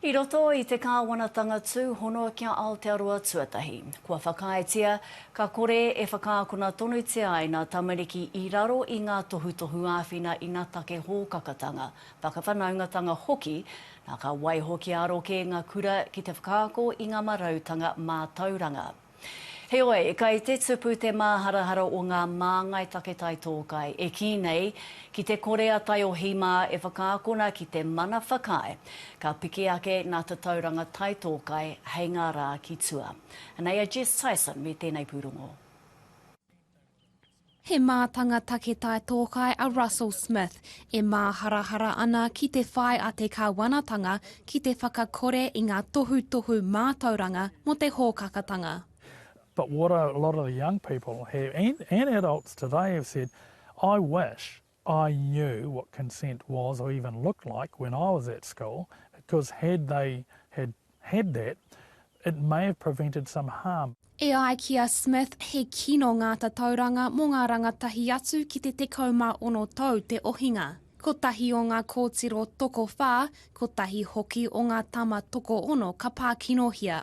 I roto i te kāwanatanga tūhono ki a Aotearoa tuatahi, kua whakaaetia ka kore e whakaakona tonutia ai ngā tamariki i raro i ngā tohutohu āwhina ina take hōkakatanga, whakawhanaungatanga hoki, nā ka waiho kia aro kē ngā kura ki te whakaako i ngā marautanga mātauranga. Heoi, kei te tupu te māharahara o ngā māngai take taitōkai e kī nei ki te kore a Taiohi mā e whakaakona ki te mana whakaae ka piki ake ngā tatauranga taitōkai hei ngā rā ki tua. Anei a Jess Tyson me tēnei pūrongo. He mātanga take tae tōkai a Russell Smith, e māharahara ana ki te whai a te Kāwanatanga ki te whakakore i ngā tohutohu mātauranga mō te hōkakatanga. But what a lot of the young people have, and and adults today have said, I wish I knew what consent was or even looked like when I was at school because had they had had that it may have prevented some harm. E ai ki a Smith, he kino ngā tatauranga mō ngā rangatahi atu ki te 16 tau te ohinga. Kotahi o ngā kōtiro tokowhā, kotahi hoki o ngā tama tokoono ka pākinohia.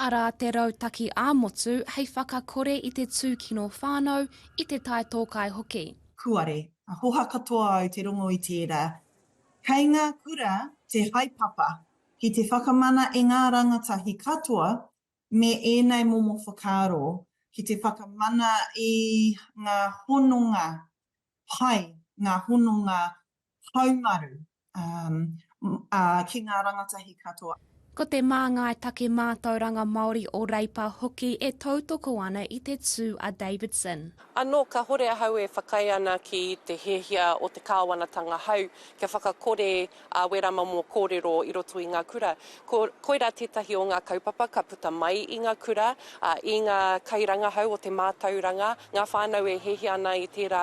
arā te rautaki ā-motu hei whakakore i te tūkino whānau, i te taetōkai hoki. Kūare, ka hoha katoa au te rongo i tērā. Kei ngā kura te haepapa ki te whakamana e ngā rangatahi katoa me ēnei momo whakaaro ki te whakamana i ngā hononga pai, ngā hononga haumaru ā, ki ngā rangatahi katoa. Ko te Māngai Take Mātauranga Māori o Reipa hoki e tautoko ana i te tū a Davidson. Anō kahore ahau e whakaae ana ki te hiahia o te Kāwanatanga hau kia whakakore a Wera Mamo kōrero i roto i ngā kura. Ko, koirā tētahi o ngā kaupapa ka puta mai i ngā kura, ā, i ngā kairangahau o te mātauranga, ngā whānau e hiahia ana i tērā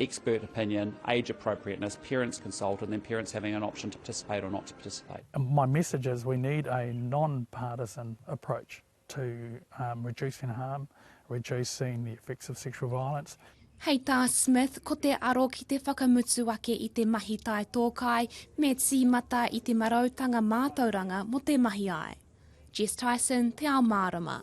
expert opinion, age appropriateness, parents consult, and then parents having an option to participate or not to participate. My message is we need a non-partisan approach to um, reducing harm, reducing the effects of sexual violence. Hei tā Smith, ko te aro ki te whakamutu ake i te mahi tae tōkai me tīmata i te marautanga mātauranga mo te mahi ai. Jess Tyson, Te Ao Mārama.